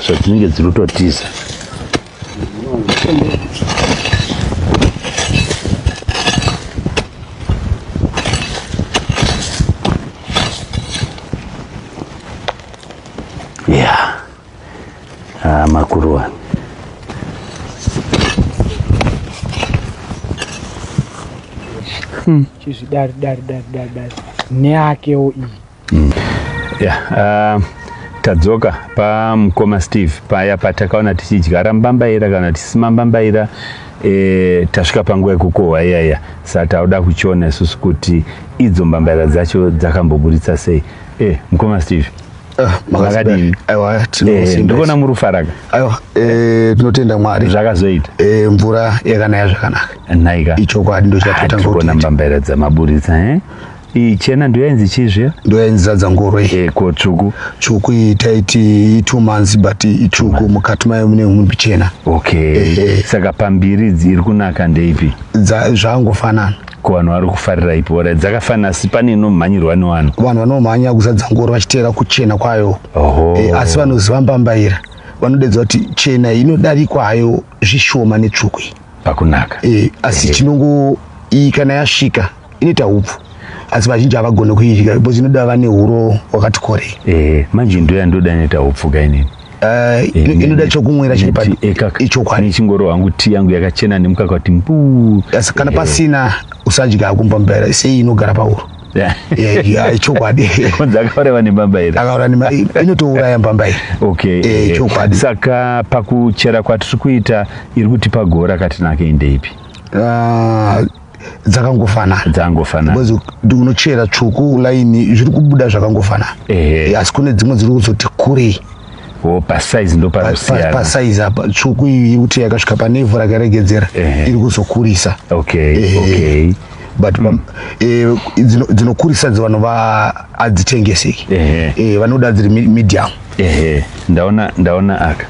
zvatinenge dziri kutotiza Ah, makuruwa. Hmm. Chizvidari dari dari dari dari. Neakewo iyi. Hmm. Yeah, uh, tadzoka pamukoma steve paya patakaona tichidyara mbambaira kana tisima mbambaira e, tasvika panguva yekukohwa iyaya sa tauda kuchiona isusu kuti idzo mbambaira dzacho dzakamboburitsa sei e, mukoma steve Ah, makadini eh, ndikuona muri kufaraka aiwa eh, tinotenda mwari zvakazoita eh, mvura yakanaya zvakanaka nhaika ichokwadi ndochatotangaona mbambaira dzamaburitsa ichena ndoyainzi chizve ndoyainzi zadza ngoro ko tsvuku tsvuku iyi taiti two months but itsvuku mukati mayo mune mumbi chena okay saka pambiri dziri kunaka ndeipi zvangofanana ko vanhu vari kufarira ipi ora dzakafanira asi pane inomhanyirwa nevanhu vanhu vanomhanya kuzadza ngoro vachiteera kuchena kwayo e, asi vanoziva mbambaira vanodedza kuti chena inodarikwa hayo zvishoma netsvuku iyi pakunaka e, asi chinongo iyi kana yasvika inoita upfu asi vazhinji havagone kuidya because inoda vane huro hwakati korei e, manje ndoya ndoda inoita upfu kainini Eh, eh, ino- inoda chokumwira chiri pa- ichokwadi ichingoro hangu tii yangu yakachena nemukaka kuti mbuu Yes, kana pasina usadya hako mbambaira sei inogara pauro Yeah, yeah, ichokwadi kunzi akauraiwa nembambaira akaura nema inotouraya mbambaira okay Eh, eh, chokwadi. saka pakuchera kwatiri kuita iri kutipa gora katinake indeipi Ah, dzakangofanana dzakangofanana because unochera tsvuku line zviri kubuda zvakangofanana ehe asi kune dzimwe dziri kuzoti kurei Oh, pasaizi ndo panosiyana pasaizi apa tsvuku iyi yekuti yakasvika pane ivhu rakaregedzera iri kuzokurisa okay okay but mm. eh, dzinokurisa dzi vanhu adzitengeseki eh, vanoda dziri medium ehe ndaona ndaona aka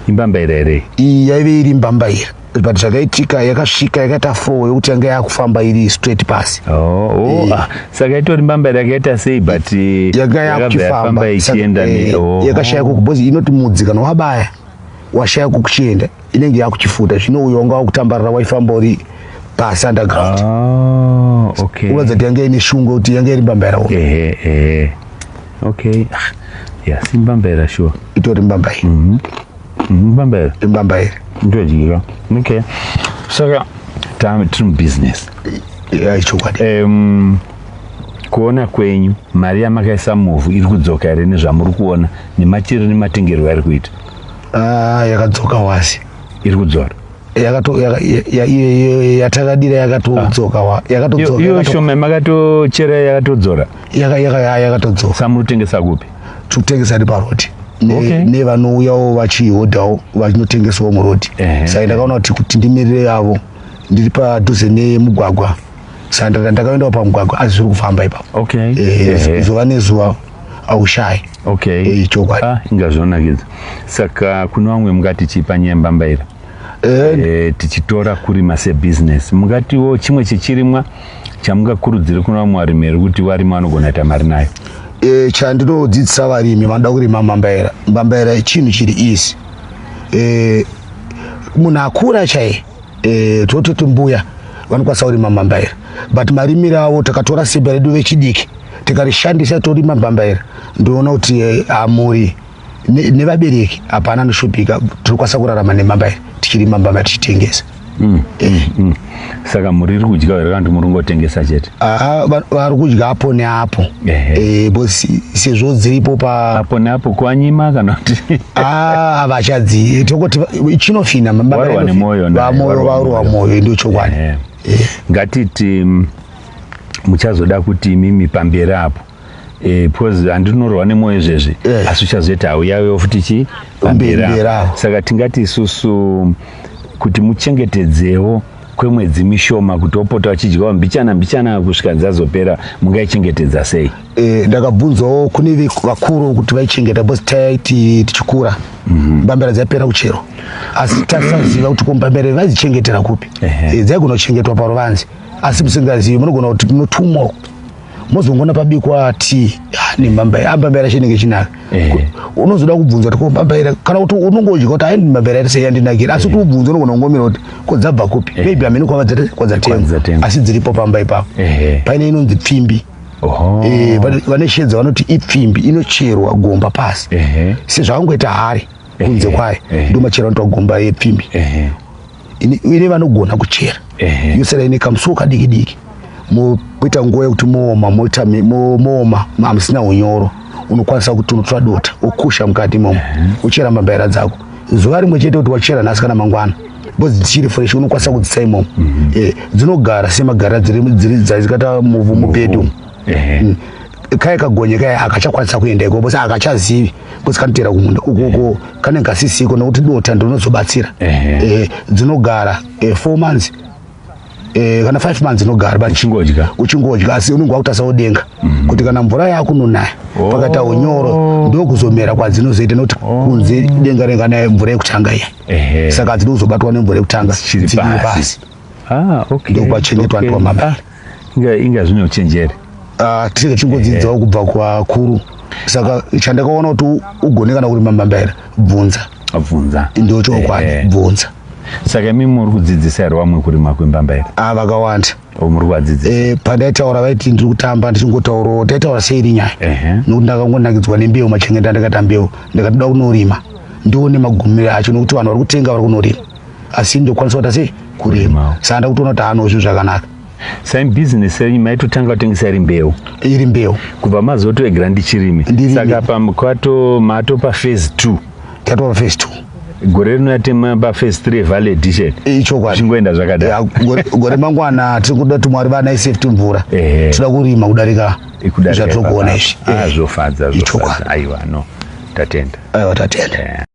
imbambaira here iyi yaive iri mbambaira but zvakaitika yakasvika yakaita four yokuti yanga yakufamba iri straight pasi oh, oh, eh. ah, saka itori mbamba yakaita sei but eh, yanga yakufamba ichienda eh, oh. yakashaya kuku because inoti mudzi kana wabaya washaya kukuchienda inenge yakuchifuta zvino uyo wanga wakutambarira waifamba uri pasi underground oh, okay. unoza kuti yanga ine shungu kuti yanga iri mbamba yarawo eh, eh. okay ah, yasimbambaira sure itori mbamba iyi mm -hmm. mbamba here imbamba here ndodyira okay saka ta- tiri mubusiness Yeah, chokwadi um, kuona kwenyu mari yamakaisa muvhu iri kudzoka here nezvamuri kuona nemachiro nematengerwo ari kuita Ah, yakadzoka wasi iri kudzora Yakato- yaka- ya- ya- ya- ya- yatakadira yakatodzoka wa- yakatodzoka- iyo yakato- shoma makatochera yakatodzora yaka- yaka- yakatodzoka samuri kutengesa kupi tikutengesa ri paroti nevanouyawo vachihodhawo vachinotengesawo muroti saka ndakaona kuti kuti ndimirire yavo ndiri padhuze nemugwagwa saka ndaka ndakaendawo pamugwagwa asi zviri kufamba ipapo zuva nezuva aushayi eh, chokwadi ah, inga zvinonakidza saka kune vamwe mungati chii panyaya mbambaira eh, tichitora kurima sebusiness mungatiwo chimwe chechirimwa chamungakurudzire kuna vamwe varimi here kuti varimi vanogona kuita mari nayo e, chandinodzidzisa varimi vanoda kurima mbambaira mbambaira chinhu chiri easy e, munhu akura chaiye e, tototi mbuya vanokwanisa kurima mbambaira but marimire avo takatora simba redu vechidiki tikarishandisa torima mbambaira ndoona kuti e, hamuri e, nevabereki hapana anoshupika tinokwanisa kurarama nemamba iri tichirima mbama tichitengesa mm. eh. mm. saka muri iri kudya here kana kuti muri kungotengesa chete ah, vari kudya apo neapo eh, sezvo dziripo paapo neapo kwanyima kana kuti ah, vachadzi tokoti chinofina mambavarowa nemwoyo varowa mwoyo ndo chokwadi ngatiti mm, muchazoda kuti mimi pamberi apo Eh, because handinorohwa nemoyo izvezvi eh. asi uchazoita hauyawewo futi chi pambera saka tingati isusu kuti muchengetedzewo kwemwedzi mishoma kuti opota vachidyawo mbichana mbichana kusvika dzazopera mungaichengetedza sei eh, ndakabvunzawo kune vakuru kuti vaichengeta bcause taiti tichikura mhm. mbambera dzaipera kuchero asi tasaziva kuti kombambera vaizichengetera kupi dzaigona kuchengetwa paruvanzi asi musingazivi munogona kuti munotumwa mozongona pabikwa tea nemambaira amambaira chinenge chinaka unozoda kubvunza kuti komambaira kana kuti unonge udya kuti ayi mambaira iri seyandinakira asi kuti ubvunze unogona kungomira kuti ko dzabva kupi maybe amene kwadzatengwa asi dziripo pamba ipapo paine inonzi pfimbi eh, vane shedza vanoti ipfimbi inocherwa gomba pasi sezvakangoita hari kunze kwayo ndomachera anotoa gomba yepfimbi ine vanogona kuchera yosera ine kamusuwo kadiki diki moita nguva yekuti mooma moita mooma mamusina unyoro unokwanisa kuti unotora dota wokusha mukati imomo uchera mabhaira dzako zuva rimwe chete kuti wachera nhasi kana mangwana because dzichiri fresh unokwanisa kudzisa imomo mhm. eh, dzinogara semagarira dziri dzikata muvhu mupedu kaya kagonye kaya akachakwanisa kuenda ikoko sa akachazivi kuti kanotera kumunda ukoko kane kasisiko nokuti dota ndinozobatsira eh, dzinogara eh, four months eh, kana five months inogara but uchingodya uchingodya asi unenge wakutasa udenga mm. kuti kana mvura yakunonaya oh. pakaita unyoro ndokuzomera kwadzinozoita nokuti oh. kunze denga renga naye mvura yekutanga iya saka dzinozobatwa nemvura yekutanga dziri pasi ah, okay. ndokwachengetwa okay. ndiwamama ah, inga, inga zvine uchenjeri ah, tinenge tichingodzidzawo eh. kubva kwakuru saka chandakaona kuti ugone kana kurima mambaira bvunza bvunza ndio chokwadi eh, eh. bvunza saka imi muri kudzidzisa here vamwe kurima kwembamba here a ah, vakawanda oh, muri kuvadzidzisa eh, pandaitaura vaiti ndiri kutamba ndichingotaurawo taitaura sei iri nyaya nokuti ndakangonakidzwa nembeu machengeta ndakata mbeu ndakatoda kunorima ndione magumiro acho nokuti vanhu vari kutenga vari kunorima asi ndokwanisa kuita sei kurima saka ndakutoona kuti haano zvinhu zvakanaka saim business renyu maitotanga kutengesa iri mbeu iri mbeu kubva mazotoegera ndichirimi saka pamkwato matopa phase two tatova phase two gore rino yatema paphase three valley edition eh, ichokwadi zvingoenda zvakadai gore mangwana tiri kuda kuti mwari vana isafety mvura tinoda kurima kudarika zvatiri kuona izvi ah, eh, zvofadza zvofadza aiwa no tatenda aiwa tatenda eh.